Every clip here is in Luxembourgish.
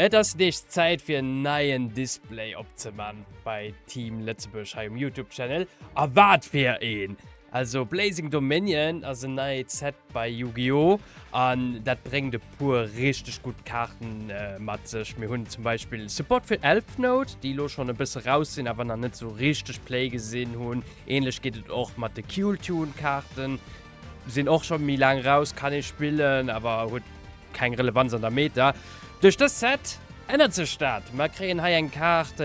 Et ass nees Zäit fir en neien Display opzeman bei Team Lëtzebuerg hei um Youtube Channel. A wat fir een! Also Blazing Dominion ass en neit Set bei Yu-Gi-Oh! An dat bréngt e puer richteg gutt Kaarten mat sech. Mir hunn zum Beispill Support fir Elf Note, déi elo schonn e bësse raus sinn, awer nach net sou richteg Play gesinn hunn. Ähnlech geet et och mat de Kiul Tune Kaarten, sinn och scho méi laang raus, kann ee spillen, awer huet. keng Relevanz an der Meta. Duerch dëst Set ännert sech dat. Mer kréien hei eng Kaart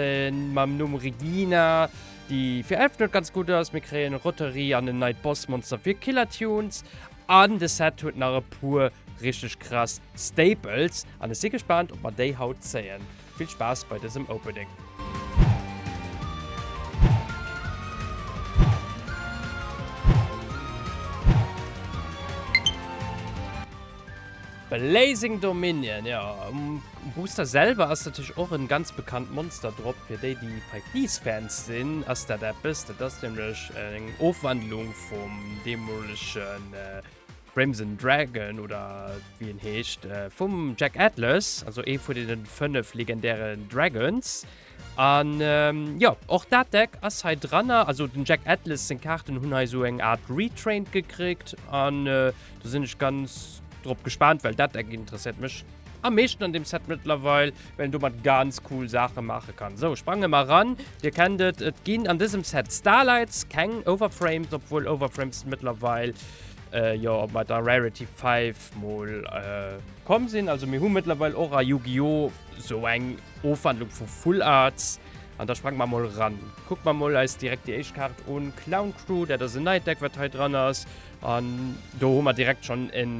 mam Numm Regina, déi fir Elfenhued ganz gutt ass. Mir kréien Roterie an en neit Bossmonster fir Killer Tunes. An de Set huet nach e puer richteg krass Staples. An ech si gespaant, ob mer déi haut zéien. Vill Spaass bei dësem Opening! Blazing Dominion, jo um Booster selwer ass natierlech och en ganz bekannt Monster drop. Fir déi déi Pikniks Fans sinn ass dat eppes, dat ass nämlech eng Ofwandlung vum deemolegen Crimson Dragon oder wéi en heescht, äh, vum Jack Atlas, also ee vun deenen fënnef legendären Dragons. An ähm, jo, och dat Deck ass hei dranner. Also den Jack Atlas seng Kaarten hunn hei esou eng Art Retraint gekriegt an äh, do sinn ech ganz drop gespaant, well dat Deck interesséiert mech am meeschten an deem Set mëttlerweil. well en domat ganz cool Saache maache kann. Sou, sprange mer eran. Dir kennt et, et ginn an dësem Set Starlights, keng Overframes, obwuel Overframes mëttlerweil jo bei der Rarity 5 mol komm sinn. Also mir hu mëttlerweil och a Yu-Gi-Oh! Sou eng Ofwandlung vu Full Arts. An da sprange mer mol eran. Kucke mer mol eis direkt déi éischt Kaart un, Clown Crew, dat ass en neit Deck, wat hei dran ass. An do hu mer direkt schonn en.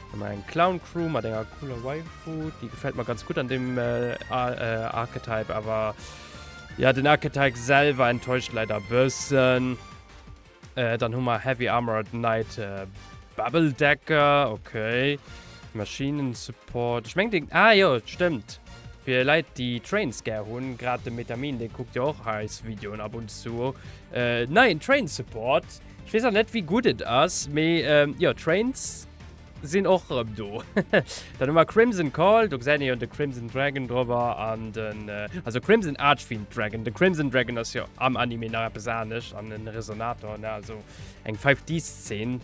Hu mer eng Clown Crew mat enger cooler Waifu, déi gefält mer ganz gutt an deem Archetype, awer jo den Archetype selwer enttäuscht leider e bëssen. Dann hu mer Heavy Armored Knight Bubble Decker, ok. Maschinen Support, ech mengen deen, ah jo stëmmt, fir Leit déi Trains gär hunn, grad de Metamin, dee kuckt jo och eis Videoen ab und zu, neien Train Support. Ech weess nach net wéi gutt et ass, mee jo d'Trains sinn och erëm do. Dann hu mer Crimson Call, do gesäit een jo de Crimson Dragon dropper an den, also Crimson Archfiend Dragon, de Crimson Dragon ass jo am Anime nach eppes anescht an en Resonator, ne, also eng 5D Szene.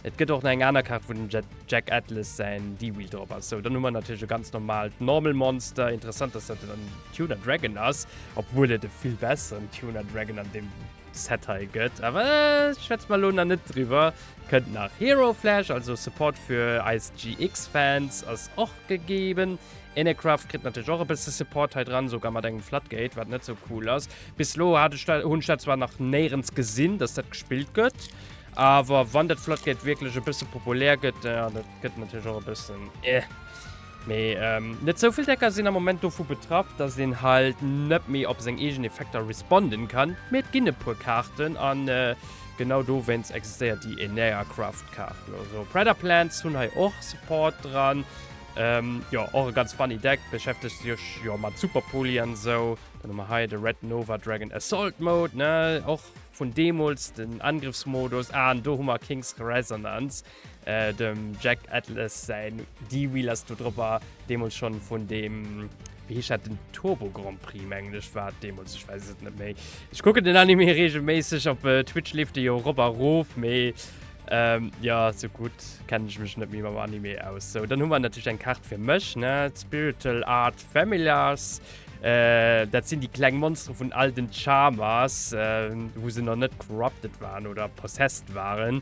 Et gëtt och nach eng aner Kaart wou den Jack Atlas säin D-Wheel drop ass. Sou, dann hu mer natierlech e ganz normaalt Normal Monster, interessant dass dat dann den Tuner Dragon ass, obwuel et e vill besseren Tuner Dragon an deem. Set hei gëtt, awer schwätze mer elo nach net driwwer. Kënnt nach Hero Flash, also Support fir eis GX-Fans ass och gegeben. Inecraft kritt natierlech och e bësse Support hei dran, esouguer mat engem Floodgate, wat net sou cool ass. Bis elo hat ech dat, hunn ech dat zwar nach néierens gesinn, dass dat gespillt gëtt, awer wann dat Floodgate wierklech e bësse populär gëtt, da gëtt natierlech och e bëssen, eh. Mee net sou vill Decker sinn am Moment dovu betraff, dass een halt net méi op seng eegen Effekter responden kann, mee et ginn e puer Kaarten an genau dowéinst existéiert déi Enneacraft Kaart. Also Predator Plants hunn hei och Support dran, jo och e ganz funny Deck, beschäftegt sech jo mat Super Poli an esou. Dann hu mer hei de Red Nova Dragon Assault Mode, ne och vun deemools den Angriffsmodus an do hu mer King's Resonance. Dem Jack Atlas säin D-Wheel ass do dropper, deemools schonn vun deem, wéi heescht dat, den Turbo Grand Prix mengen ech war et deemools, ech weess et net méi. Ech kucken den Anime reegelméisseg, op Twitch leeft e jo erop a rof, mee jo, sou gutt kennen ech mech net méi mam Anime aus. Sou, dann hu mer natierlech eng Kaart fir mech, ne, Spiritual Art Familiars, dat sinn déi kleng Monstere vun all den Charmers, wou se nach net corrupted waren oder possessed waren.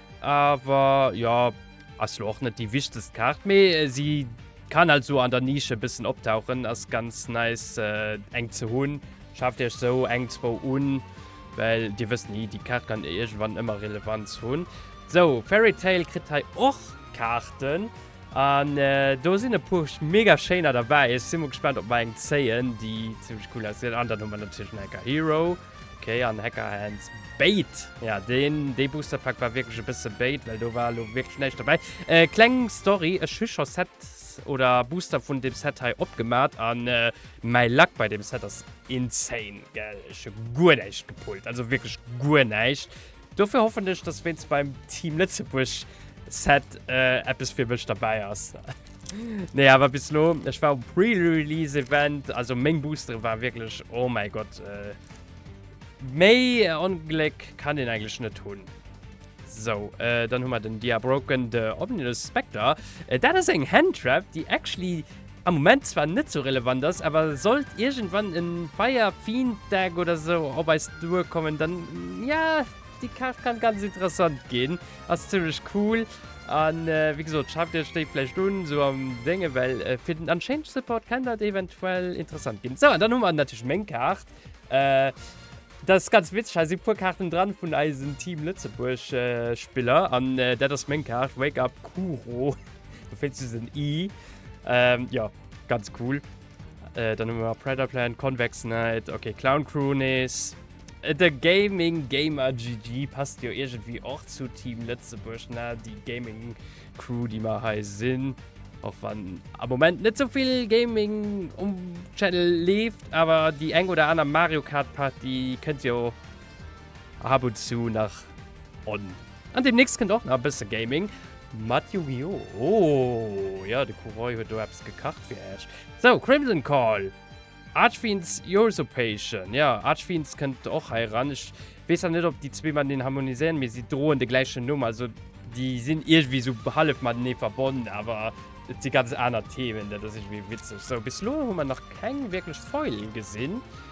Awer jo, ass lo och net déi wichtegst Kaart, mee si kann halt sou an der Nische e bëssen optauchen, ass ganz nice eng ze hunn. Schaaft iech sou eng, zwou un, well dir wësst ni, déi Kaart kann iergendwann ëmmer Relevanz hunn. Sou, Fairy Tail kritt hei och Kaarten an do sinn e puer mega schéiner derbäi. Ech si mol gespaant, ob mer eng zéien, déi zimmlech cool ausgesinn. An dann hu mer natierlech den Anchor Hero. Ok, an Hacker Hands Bait. Ja, den, dee Booster Pack war wirklich e bësse Bait, well do war lo wirklich näischt dobäi. Äh, kleng Story, ech hu scho Sets oder Booster vun dem Set hei opgemat an äh, mäi Luck bei dem Set ass insane, gell. Ech hu guer näischt gepullt, also wirklich guer näischt. Dofir hoffen ech, dass wéinst beim Team Lëtzebuerg Set eppes fir mech derbäi ass. Nee, awer bis elo, ech war um Pre-Release Event, also meng Boostere war wierklech, oh mäi Gott, méi Ongléck kann een eigentlech net hunn. Sou, dann hu mer den Diabroken, de Ominous Spectre. Dat ass eng Hand Trap, déi actually. am Moment zwar net sou relevant ass, awer sollt iergendwann en Fire Fiend Deck oder sou op eis duer kommen dann ja déi Kaart kann ganz interessant ginn, ass zimmlech cool an wéi gesot schaf dir iech déi vläicht un sou am Déngen well fir den Unchanged Support kann dat eventuell interessant ginn. Sou an dann hu mer natierlech meng Kaart, dat ass ganz witzeg hei si puer Kaarten dran vun eisen Team Lëtzebuerg Spiller an dat ass meng Kaart Wake Up Kuro. Du findst du den I? Ähm, ja, ganz cool. Äh, dann haben wir Predator Plan, Convex Knight, okay, Clown Cronies. Äh, der Gaming Gamer GG passt ja irgendwie auch zu Team Lützeburg, na, die Gaming Crew, die wir hier sind. Auch wenn am Moment nicht so viel Gaming um Channel lebt, aber die eng oder andere Mario Kart Party könnt ihr Ab und zu nach on. An demnächst kënnt och nach e bësse Gaming mat Yu-Gi-Oh! Oh, jo, de Kuroi huet do eppes gekacht fir iech. Sou, Crimson Call, Archfiends Usurpation. Jo, Archfiends kënnt och hei eran. Ech weess zwar net, ob déi zwee mateneen harmoniséieren, mee si droen de gläichen Numm. Also déi sinn iergendwéi esou hallef matenee verbonnen, awer et si ganz aner Themen. Dat ass iergendwéi witzeg. Sou, bis elo hu mer nach keng wierklech Foilen gesinn.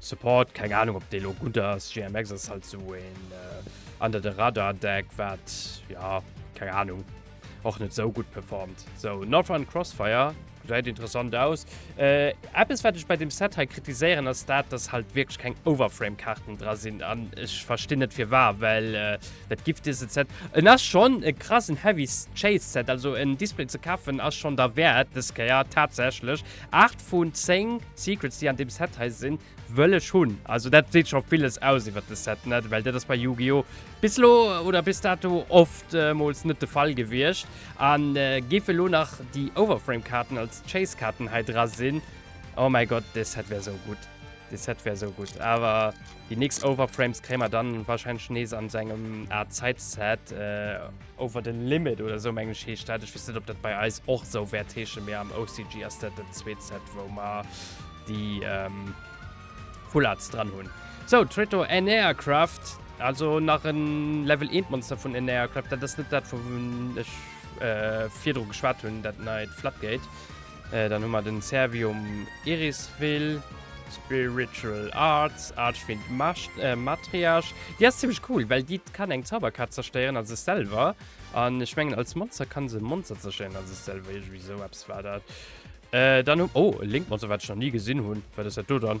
Support, keng Ahnung ob dee lo gutt ass. GMX ass halt sou een under the radar Deck wat, jo, keng Ahnung, och net sou gutt performt. Sou, Northrend Crossfire gesäit interessant aus. Eppes wat ech bei deem Set hei kritiséieren ass dat, dass halt wierklech keng Overframe Kaarten dra sinn an ech verstinn net firwar, well dat giff dëse Set, en ass schonn e krassen Heavy Chase Set, also en Display ze kafen ass schonn derwäert dës Kéier tatsächlech, Aacht vun zéng Secrets déi an deem Set hei sinn wëll ech hunn. Also dat seet scho villes aus iwwert de Set, net? Well dat ass bei Yu-Gi-Oh! Bis elo oder bis dato oftmools net de Fall gewiescht. An géif elo nach déi Overframe Kaarten als Chase Kaarten hei dra sinn, oh mäi Gott, dee Set wär sou gutt. Dee Set wär sou gutt. Awer déi nächst Overframes kréie mer dann wahrscheinlech nees an sou engem Aart Zeit Set. Over the Limit oder esou mengen ech heescht dat. Ech weess net op dat bei eis och esou wäert heeschen, mee am OCG ass dat dat zweet Set wou mer déi Full Arts dran hunn. Sou, Traitor Anearcraft, also nach en Level 1 Monster vun Anearcraft, dat ass net dat wou vun ech virdru geschwat hunn, dat neit Floodgate. Dann hu mer den Servium Irisvill, Spiritual Arts, Archfiend Matriarch. Déi ass zimmlech cool, well déi kann eng Zauberkaart zerstéieren, also sech selwer. An ech mengen als Monster kann se Monster zerstéieren, also sech selwer. Iergendwéi esou eppes war dat. Dann hu, oh, e Link-Monster, wat ech nach ni gesinn hunn. Wat ass dat do dann?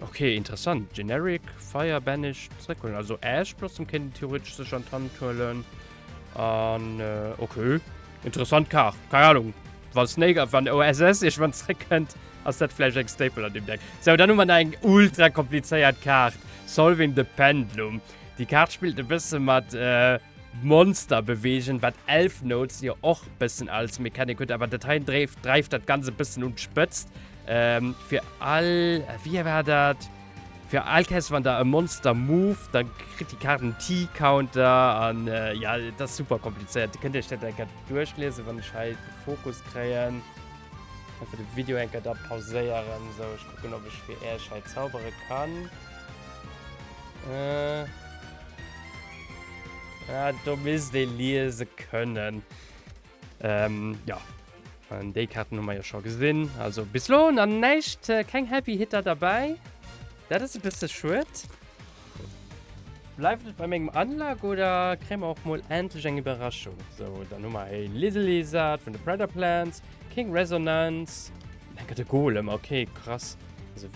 Okay, interessant. Generic, Fire Banished, zréckholen. Also Ash Blossom kennt theoretisch sech an d'Hand huelen. An, äh, okay. Interessant Kar. Keine Ahnung. Wann Snake, wann OSS, ich wann zréck könnt, ass dat vielleicht eng Staple an dem Deck. So, dann haben wir eng ultra kompliziert Kart. Solving the Pendulum. Die Kart spielt ein bisschen mit, äh, Monster bewegen, wat Elf Notes ja och bëssen als Mechanik huet, awer dat hei dreift dat ganz e bëssen un d'Spëtzt. Ähm, fir all, wéi war dat? Fir all Käst, wann der e Monster moved, da kritt déi Kaart en T-Counter. An ja, dat ass super komplizéiert. Dir kënnt iech dat eng Kéier duerchlesen, wann ech hei de Fokus kréien. Einfach de Video eng Kéier da pauséieren. Sou, ech kucken, ob ech fir iech hei zaubere kann. Äh. Ah, do misst ee liese kënnen. Ähm, ja. An déi Karten hu mer jo scho gesinn. Also bis lo an näicht äh, keng Happy Hitter dabei. Dat ass e bësse schuet. Bleift et bei mengem Anlag oder kréie mer och mol endlech eng Iwwerraschung? So, dann hu mer e Liselizard vun de Predator Plants, King Resonance, dann gëtt e Golem, okay, krass. Also,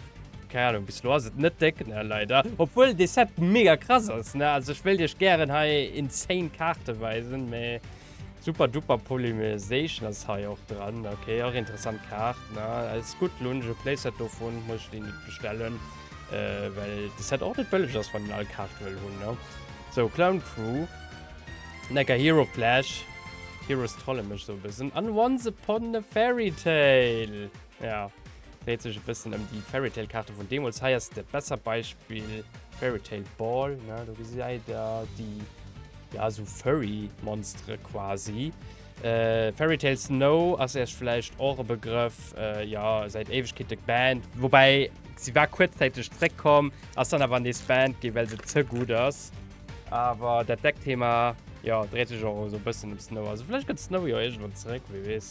keine Ahnung, bis lo ass et net déck, ne, leider. Obwuel de Set mega krass ass, ne? Also, ech wëllt Iech gären hei insane Karte weisen, mee. Super duper Polymerisation ass hei och dran. Ok och interessant Kaart na als gut lunge Playset dovun muss ich den nicht bestellen äh, well de Set och net bëlleg ass wann den all Kaart wëll hunn ne. So Clown Crew Necker Hero Flash Heroes trolle mech so e bëssen an Once Upon a Fairy Tale. Ja, dréit sech e bëssen ëm déi Fairy Tail Kaarte vun deemools. Hei ass de besser Beispill Fairy Tail Ball, ne, do gesäit der déi, ja, esou Furry Monstere quasi. Äh, Fairy Tail Snow ass Iech vläicht och e Begrëff, äh, ja, säit Éiwegkeete banned, woubäi si war kuerzzäiteg zréckkomm, ass dann awer nees banned ginn, well se ze gutt ass. Awer dat Deckthema, jo, dréit sech och esou e bëssen ëm Snow. Also vläicht kënnt Snow jo iergendwann zeréck, wie weess.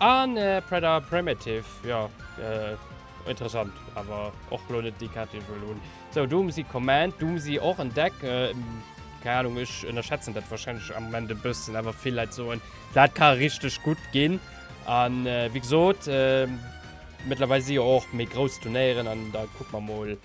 An Predator Primitive, jo interessant, awer och elo net déi Kaart déi ech wëll hunn. Sou Doomsy Command, Doomsy och en Deck, keng Anung, ech ënnerschätzen dat wahrscheinlech am Moment e bëssen, awer vill Leit soen dat ka richteg gutt ginn. An wéi gesot, mëttlerweil si jo och méi grouss Turnéieren an da kucke mer mol.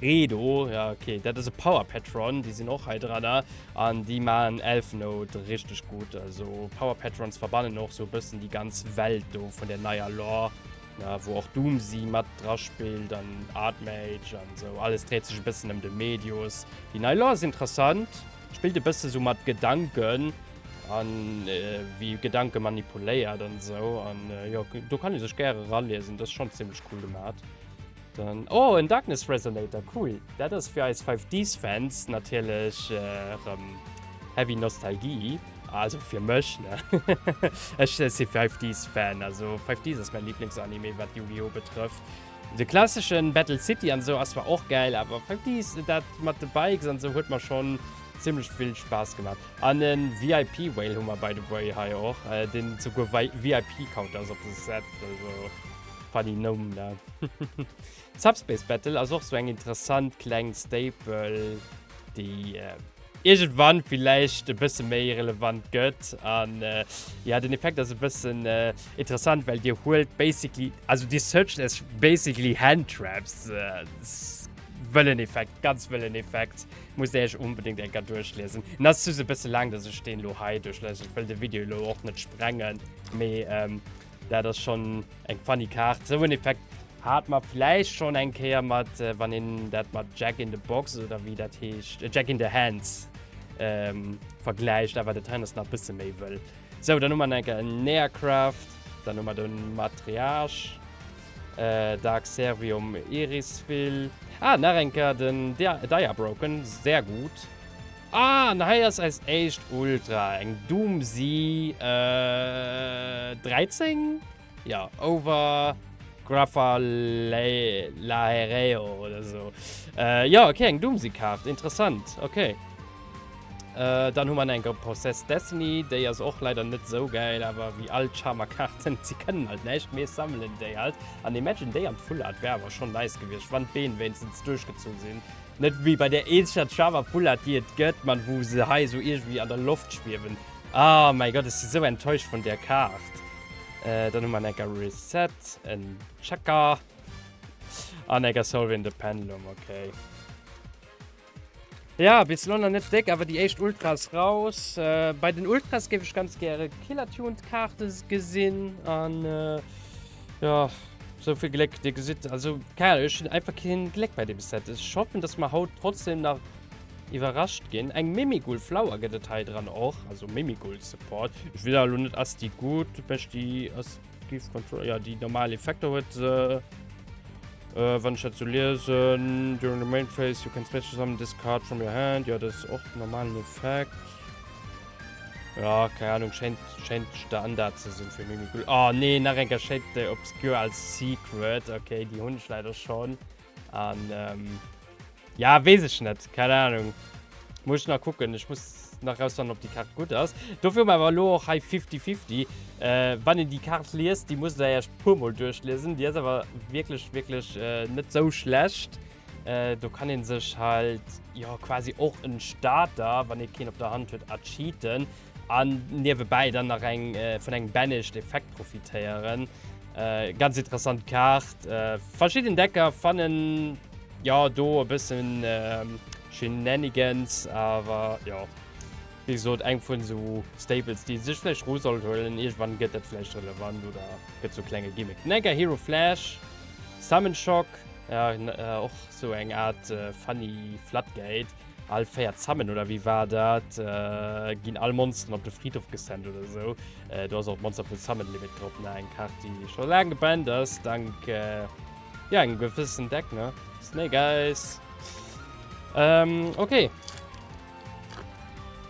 Redo, ja ok, dat ass e Power Patron, déi sinn och hei dranner an déi maachen Elf Note richteg gutt. Also Power Patrons verbannen och sou e bëssen déi ganz Welt do vun der neier Lore, na, wou och Doomsee mat dra spillt an Artmage an sou, alles dréit sech e bëssen ëm de Medius. Déi nei Lore ass interessant, spillt e bësse sou mat Gedanken an wéi Gedanke manipuléiert an sou an jo, do kann ee sech gäre raliesen, dat ass schonn zimmlech cool gemat. Dann, oh en Darkness Resonator, cool! Dat ass fir eis 5Ds Fans natierlech rëm heavy Nostalgie, also fir mech ne, ech si 5Ds Fan, also 5Ds ass mäin Lieblings Anime wat Yu-Gi-Oh betrëfft. De klasseschen Battle City an esou ass zwar och gäil, awer 5Ds, dat mat de Bikes an esou huet mer schonn zimmlech vill Spaass gemaach. An e VIP Whale hu mer by the way hei och, deen souguer VIP Counter ass op de Set, also. Funny Numm ne? Subspace Battle ass och sou eng interessant kleng Staple déi iergendwann villäicht e bësse méi relevant gëtt an jo den Effekt ass e bëssen interessant well dir huelt basically, also dir searcht iech basically Hand Traps. Wëllen Effekt, ganz wëllen Effekt, musst där iech onbedéngt eng Kéier duerchliesen. En ass just e bësse laang dass ech deen elo hei duerchlesen, ech wëll de Video elo och net sprengen mee. Dat ass schon eng funny Kaart. Sou en Effekt hat mer vläicht schon eng Kéier mat, äh, wann een dat mat Jack in the Box oder wéi dat heescht, äh, Jack in the Hands ähm, vergläicht, awer dat hei ass nach e bësse méi wëll. Sou, dann hu mer enker en Neacraft, dann hu mer do en Matriarch, äh, Dark Servium Irisvil, ah, nach enker den Dia Diabroken, sehr gut. Ah, an hei ass eis éischt Ultra, eng Doomsy 13? Jo, over Graphalaereo oder esou. Jo, ok, eng Doomsy-Kaart, interessant, ok. Dann hu mer nach eng Gold Process Destiny, déi ass och leider net esou gäil, awer wéi all d'Charmer-Kaarten, se kënnen halt näischt, mee ech sammelen déi halt. An Imagine déi an Full Art wär awer schonn nice gewiescht, wann d'Been wéinstens duerchgezu sinn. Net wéi bei där eenzeger Java Boulette déi et gëtt, ma wou se hei esou iergendwéi an der Loft schwiewen. Ah mäi Gott, ech si sou enttäuscht vun där Kaart. Dann hu mer en Ecker Reset, en Checker an Ecker Solve in the Pendulum. Ok. Ja, bis elo nach net déck, awer déi éischt Ultra ass raus. Bei den Ultras géif ech ganz gäre Killer Tuned Kaarte gesinn. An Jo, sou vill Gléck, Dir gesitt, also keine Ahnung, ech hunn einfach keen Gléck bei deem Set. Ech hoffen, dass mer haut trotzdem nach iwwerrascht ginn. Eng Mimigul Flower gëtt et hei dran och, also Mimigul Support. Ech weess awer lo net, ass déi gutt? Huet mech déi ass Gift Control, jo, déi normal Effekter huet se, wann ech dat sou liesen. During the main phase you can special summon this card from your hand, jo, dat ass och den normalen Effekt. Ja, keine Ahnung, scheint, scheint Standard zu sein für Mimikul. Oh ah, nee, nach ein Cachette Obscure als Secret. Okay, die Hund leider schon. Und, ähm, ja, weiß ich nicht, keine Ahnung. Muss ich noch gucken, ich muss noch rausfinden, ob die Karte gut ist. Dafür mal aber auch high 50-50. Äh, wenn ihr die Karte liest, die muss ihr erst ein paar Mal durchlesen. Die ist aber wirklich, wirklich äh, nicht so schlecht. Do kann een sech halt jo quasi och en Starter, wann ee keen op der Hand huet, ercheaten an niewebäi dann nach eng vun engem Banished Effekt profitéieren. Ganz interessant Kaart. Verschidden Decker fannen jo do e bëssen Shenanigans, awer jo wéi gesot eng vun esou Staples, déi ee sech vläicht ru sollt huelen. Iergendwann gëtt dat vläicht relevant oder gëtt zu e klenge Gimmick. Den Anchor Hero Flash. Salmon Shock, och sou eng Art funny Flatgate. All 4 Salmon, oder wéi war dat, ginn all Monsteren op de Fridhof gesendt oder sou. Do ass och d'Monster vu Salmon Limit drop, ne? Eng Kaart, déi scho laang gebannt ass, dank, jo, engem gewëssen Deck, ne? Snake Eyes. Okay.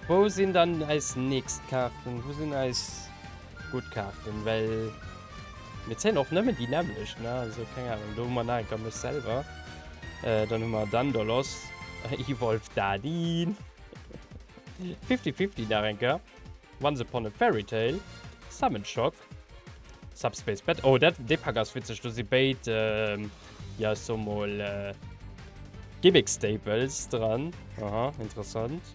Wou sinn dann eis nächst Kaarten? Wou sinn eis. gutt Kaarten, well mir zéien och nëmmen déi nämmlecht, ne, also keng Ahnung, do hu mer nach eng Kéier mech selwer, dann hu mer Daendalos, Ewolf Daadin, Fifty Fifty nach eng Kéier, Once Upon a Fairy Tale, Summon Shock, Subspace Bat, oh dat, dee Pak ass witzeg, do si béid, jo ech soe mol Gimmick Staples dran, aha, interessant.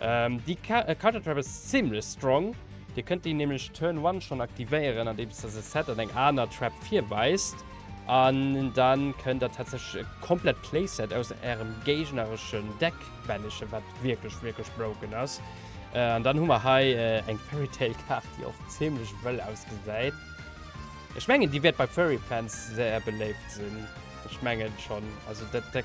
Ähm, déi Card Trap ass zimlech strong. Dir kënnt déi nämlech Turn One schonn aktivéieren, andeems der se set an eng aner Trap virweist. An dann kënnt der tatsächlech e komplett Playset aus ärem géignereschen Deck banishen, wat wierklech, wierklech broken ass. An dann hu mer hei eng Fairy Tail Kaart, déi och zimlech wëll ausgesäit. Ech mengen, déi wäert bei Furry Fans sehr beléift sinn. Ech mengen schonn. Also dat Deck.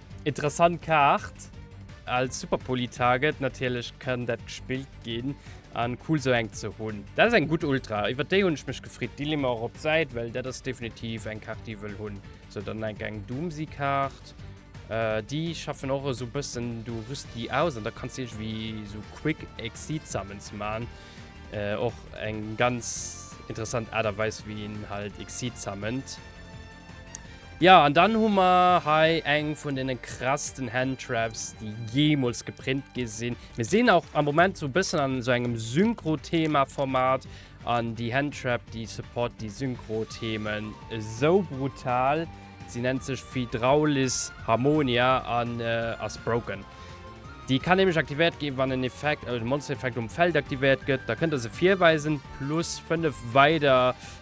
Interessant Kaart. Als Superpoli Target natierlech kann dat gespillt ginn an cool sou eng ze hunn. Dat ass eng gutt Ultra, iwwert déi hunn ech mech gefreet. Déi leeë mer och op d'Säit, well dat ass definitiv eng Kaart déi wëll hunn. Sou dann enk eng Doomsy Kaart. Déi schaffen och esou bëssen du rüst déi aus an da kanns de iergendwéi esou Quick Exit Summons man. Och eng ganz interessant Aart a Weis wéi een halt Exit summont. Ja, an dann hu mer hei eng vun den krassten Handtraps, déi jeemools geprint gi sinn. Mir sinn auch am Moment so bëssen an so engem Synchro-Thema-Format an déi Handtrap, déi support déi Synchro-Themen esou brutal. Si nennt sech Hydraulis Harmonia an äh, ass broken. Déi kann nämlech aktivéiert ginn, wann en Effekt, also de Monster-Effekt um Feld aktivéiert gëtt. Da kënnt der se virweisen, plus 5 weider.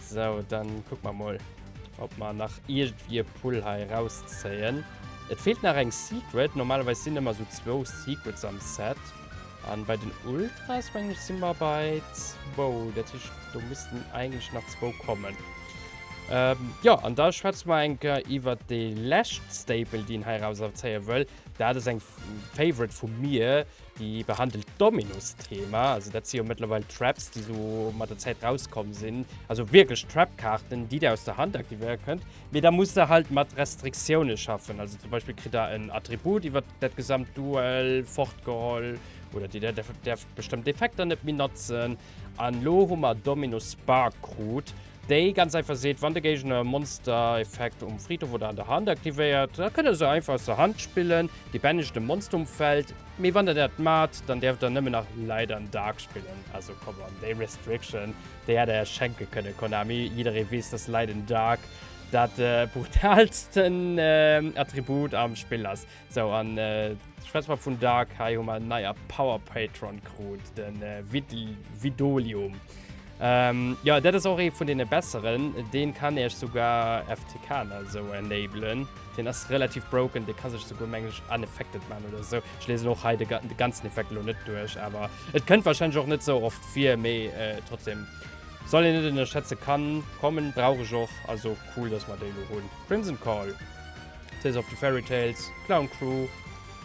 So, dann guck mal mal, ob man nach irgendwie Pull hei rauszählen. Et fehlt nach eng Secret. Normalerweise sind immer so zwei Secrets am Set. Und bei den Ultras, wenn ich sind wir bei zwei. Das ist, da müssten eigentlich nach zwei kommen. Ähm, ja, und da schwätzen wir enker über die letzte Staple, die ich hier rauszählen will. Das ist ein Favorite von mir. Déi behandelt d'Dominus-Thema, also dat si jo mëttlerweil d'Traps, déi esou mat der Zäit rauskomm sinn, also wierklech Trap-Kaarten, déi Dir aus der Hand aktivéiere kënnt, mee da musst Der halt mat Restriktioune schaffen. Also zum Beispill kritt Der en Attribut iwwer dat gesamt Duel fortgeholl oder Dir däerft bestëmmt Effekter net méi notzen. An elo hu mer Dominus Spark krut, Déi ganz einfach seet, wann de Géigner e Monster-Effekt um Fridhof oder an der Hand aktivéiert, da kënnt der se einfach aus der Hand spillen, déi bännegt de Monster um Feld. Mee wann der dat maacht, dann däerft der nëmmen nach Light an Dark spillen. Also come on, déi Restriction, déi hätt der är schenke kënne, Konami. Jidderee weess, dass Light an Dark dat brutaalsten Attribut am Spill ass. Sou an schwätz mer vun Dark, hei hu mer en neier Power Patron krut, den Vidolium. Jo dat ass och ee vun deene besseren, deen kann iech sougar FTK an esou enablen, deen ass relativ broken, dee ka sech souguer mengen ech unaffected man oder esou. Ech liesen och hei de ganzen Effekt elo net duerch, awer et kënnt wahrscheinlech och net sou oft vir, mee trotzdem soll een net ënnerschätzen, kann kommen, brauch ech och, also cool dass mer déi elo hunn. Crimson Call. Tales of the Fairy Tales, Clown Crew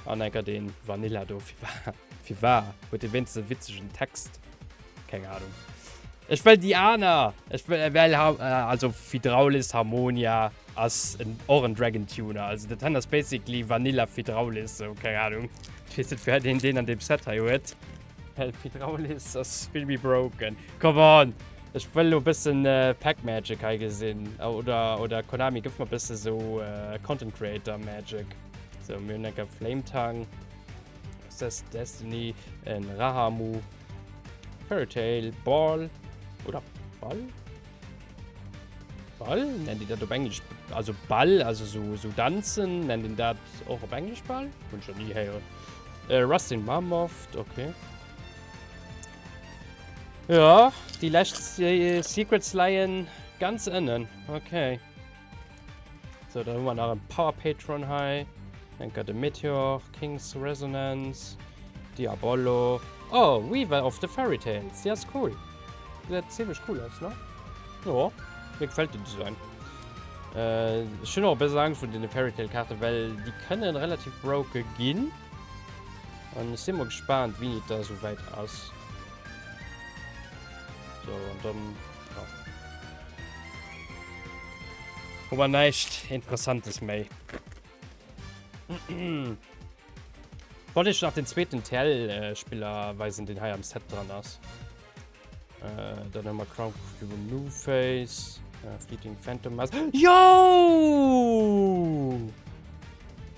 an enker den Vanilla do. Fir war? Huet dee wéinstens e witzegen Text? Keng Anung. Ech wëll déi aner! Ech wëll also Fidraulis Harmonia ass och en Dragon Tuner. Also dat hei ass basically Vanilla Fidraulis, sou keng Anung. Ech weess net firwat een deen an deem Set hei huet. Help Hydraulis ass vill méi broken. Come on! Ech wëll lo bëssen äh, Pack Magic hei gesinn. Oder, oder Konami gëff mer bësse so äh, Content Creator Magic. So, mir hunn enke Flame Tongue, Assess Destiny, en Rahamu, Fairy Tail, Ball oder Ball? Ball? Nennt Dir dat op Englesch, also Ball, also so, so Danzen, nennt Dir dat och op Englesch Ball? Hunn ech nach ni héieren. Äh, Rustin Mammoth, okay. Ja, déi lescht Secrets leien ganz ënnen, okay. So, dann hu mer nach en Power Patron hei. Denker de Meteor, King's Resonance, Diabollo. Oh, Weaver of the Fairy Tales. Die ist cool. Die sieht ziemlich cool aus, ne? Ja, mir gefällt den Design. Äh, ich habe auch ein bisschen Angst vor den Fairy Tale Karten, weil die können relativ broken gehen. Und ich sind mal gespannt, wie das so weit ist. So, und dann Hu mer näischt Interessantes méi. Wollt iech nach den zweeten TL-Spiller weisen, deen hei am Set dran ass. Äh, dann hu mer Crown Cube New Face, äh, Fleeting Phantom Mask. Jo!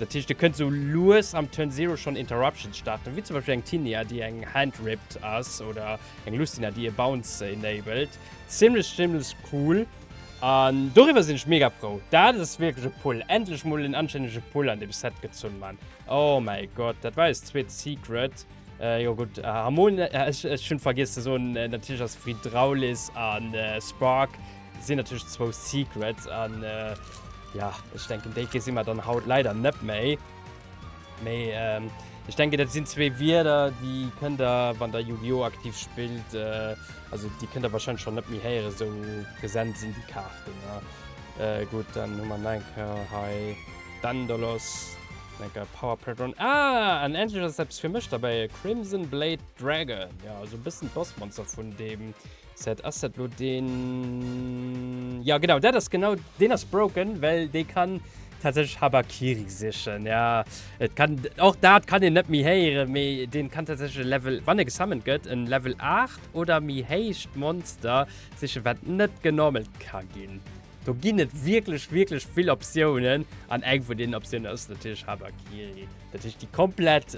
Dat heescht, et kënnt esou lues am Turn Zero schonn Interruptions starten, wéi zum Beispill eng Tinia, déi eng Hand rippt ass, oder eng Lucina, déi e Bounce enabled. Zimlech, zimlech cool an doriwwer sinn ech mega frou. Dat ass wierklech e Pull. Endlech mol en anstännege Pull an deem Set gezunn, Mann. Oh mäi Gott, dat war eist zweet Secret. Jo gutt, Harmon, ech hunn vergiess ze soen, natierlech ass Frydraulis a Spark Sinn natierlech zwou Secrets an jo ech denken déi gesi mer dann haut leider net méi. Mee ech denken dat sinn zwee Wierder déi kënnt der wann der Yu-Gi-Oh! aktiv spillt, also déi kënnt der warscheinlech schonn net méi héieren, esou present sinn déi Kaarten. Gutt dann hu mer nach eng Kéier hei Daendalos, dann eng Kéier Power Patrón, ah an endlech ass eppes fir mech derbäi, e Crimson Blade Dragon, jo also e bëssen d'Bossmonster vun deem Set, ass dat lo den? Ja genau, dat ass genau, den ass broken, well dee kann tatsächlech Habakiri sichen, ja. Et kann, och dat kann een net méi héieren, mee deen kann tatsächlech e Level, wann e gesummont gëtt, en Level 8 oder méi héicht Monster sichen, wat net genormalt ka ginn. Do ginn et wierklech, wierklech vill Optiounen, an eng vun deenen Optiounen ass natierlech Habakiri. Dat heescht déi komplett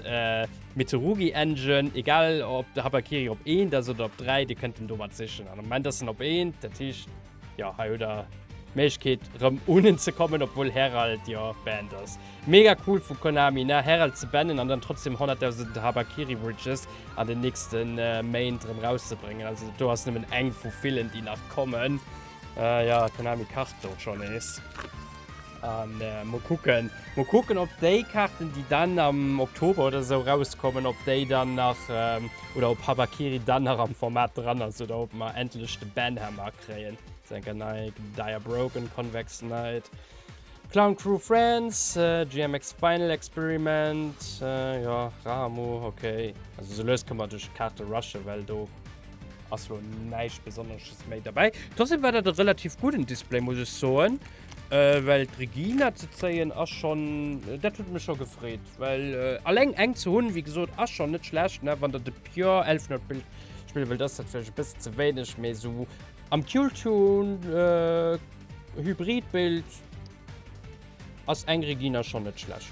Mitsurugi Engine, egal op de Habakiri op 1 ass oder op 3, Dir kënnt en domat sichen. Am Moment ass en op 1, dat heescht jo hei hutt Der d'Méiglechkeet erëm un en ze kommen, obwuel Herald jo banned ass. Mega cool vu Konami ne, Herald ze bannen an dann trotzdeem 100.000 Habakiri Bridges an den nächste Méint erëm rauszebréngen. Also do ass nëmmen eng vu villen, déi nach kommen. Jo, Konami kacht do scho nees. An mol kucken mol kucken op déi Kaarten déi dann am Oktober oder esou rauskommen op déi dann nach oder op Harakiri dann nach am Format dran ass oder op mer endlech de Banhammer kréien. Senker Nike, Dire Broken, Convex Night, Clown Crew France, GMX Final Experiment, jo Ramu ok. Also sou lues kënne mer duerch d'Kaarte rushen, well do ass lo näischt besonnesches méi derbäi. Trotzdem war dat e relativ gudden Display muss ech soen. Well d'Regina ze zéien ass schonn, dat huet mech scho gefreet. Well eleng eng ze hunn, wéi gesot, ass schonn net schlecht, ne? Wann Der de Pure Elf Note spille wëllt, ass dat vläicht e bësse ze wéineg, mee esou am Dual-Tune-Hybrid-Bild ass eng Regina schonn net schlecht.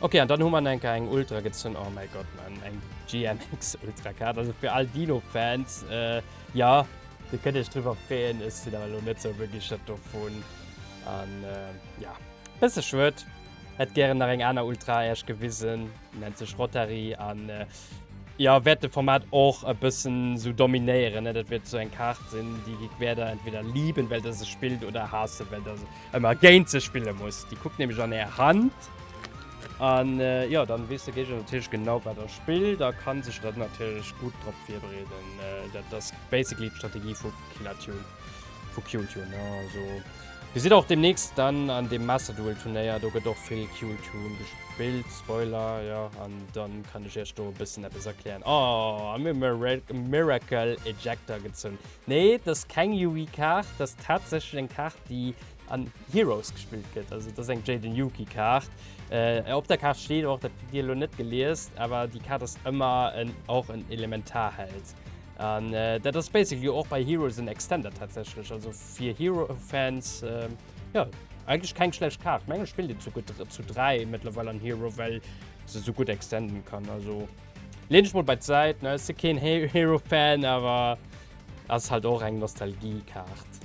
Ok, an dann hu mer enker eng Ultra gezunn, oh mäi Gott, Mann, eng GMX Ultra Card. Also fir all Dino-Fans. Jo, dir kënnt iech driwwer freeën. Ech sinn awer elo net sou begeeschtert dovun. An jo, bësse schued. Hätt gären nach eng aner Ultra Äerch gewisen. Nennt sech Rotary an jo, wäert de Format och e bëssen sou dominéieren. Dat wier sou eng Kaart sinn, déi wäert der entweder lieben, well der se spillt, oder haassen, well der se. Ëmmer géint se spille muss. Déi kuckt nämlech an är Hand. An jo, dann weess de Géigner natierlech genau, wat der spillt a kann sech dann natierlech gutt drop virbereeden. Dat ass basically d'Strategie vu Killer Tune, vu Kill Tune, ne? Also, Dir sidd och deemnächst dann an deem Master Duel Turnéier. Do gëtt och vill Kill Tune gespillt. Spoiler, jo. An dann kann ech iech do e bëssen eppes erklären. Oh, a mir hu Miracle Ejector gezunn. Nee, dat ass keng Yugi-Kaart. Dat ass tatsächlech eng Kaart, déi an Heroes gespillt gëtt. Also dat ass eng Jaden Yugi-Kaart. Op der Kaart steet och, dat hutt Dir elo net geliest, awer déi Kaart ass ëmmer en, och en Elementarheld. An dat ass basically och bei Heroes en Extender tatsächlech. Also fir Hero-Fans, jo, eigentlech keng schlecht Kaart. Mengen, et spillt een zu gutt zu dräi mëttlerweil an Hero, well se esou gutt extenden kann. Also. Leen ech mol bei d'Säit, ne si keen Hero-Fan, awer ass halt och eng Nostalgie-Kaart.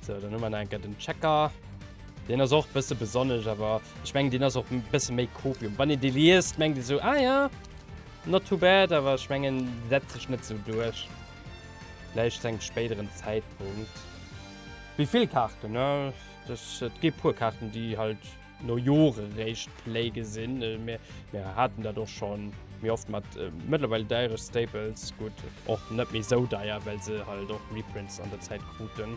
Sou, dann hu mer nach eng Kéier den Checker. Deen ass och e bësse besonnesch, awer ech mengen, deen ass och e bësse méi Copium. Wann een dee liest, mengt ee sou, ah ja, not too bad, awer ech mengen, dee setzt sech net sou duerch. Vläicht zu engem spéideren Zäitpunkt. Wéi vill Kaarten, ne? Et gi e puer Kaarten, déi halt. No Jore réischt Play gesinn. Mir haten dat och scho méi oft mat mëttlerweil deiere Staples, gutt och net méi sou deier, well se halt och Reprints an der Zäit kruten.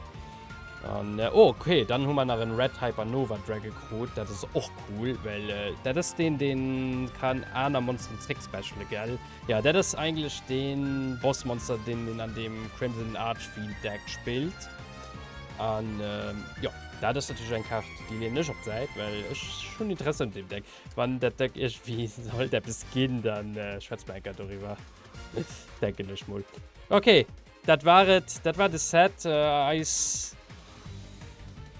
An oh ok, dann hu mer nach en Red Hypernova Drag gekrut, dat ass och cool, well dat ass deen deen kann aner Monsteren zréck specialen gell? Jo dat ass eigentlech deen Bossmonster deen een an deem Crimson Archfiend Deck spillt. An jo, dat ass natierlech eng Kaart, déi leeën ech op d'Säit, well ech hunn Interesse un deem Deck. Wann dat Deck iergendwéi sollt eppes ginn, da schwätze mer eng Kéier doriwwer, denken ech mol. Ok, dat war et, dat war de Set. Eis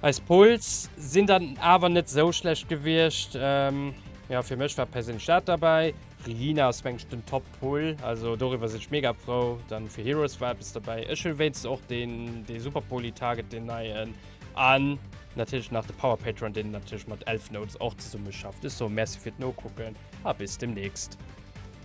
eis Pulls sinn dann awer net esou schlecht gewiescht. Jo, fir mech war perséinlech dat derbäi. Regina ass, meng ech, den Top Cool, also doriwwer sinn ech mega frou. Dann fir Heroes war eppes dobäi. Ech huelen wéinstens och deen dee super poly Target, deen neien. An natierlech nach de Power Patron, deen natierlech mat Elfnotes och zesummeschafft. Ech soe Merci fir d'Nokucken a bis demnächst.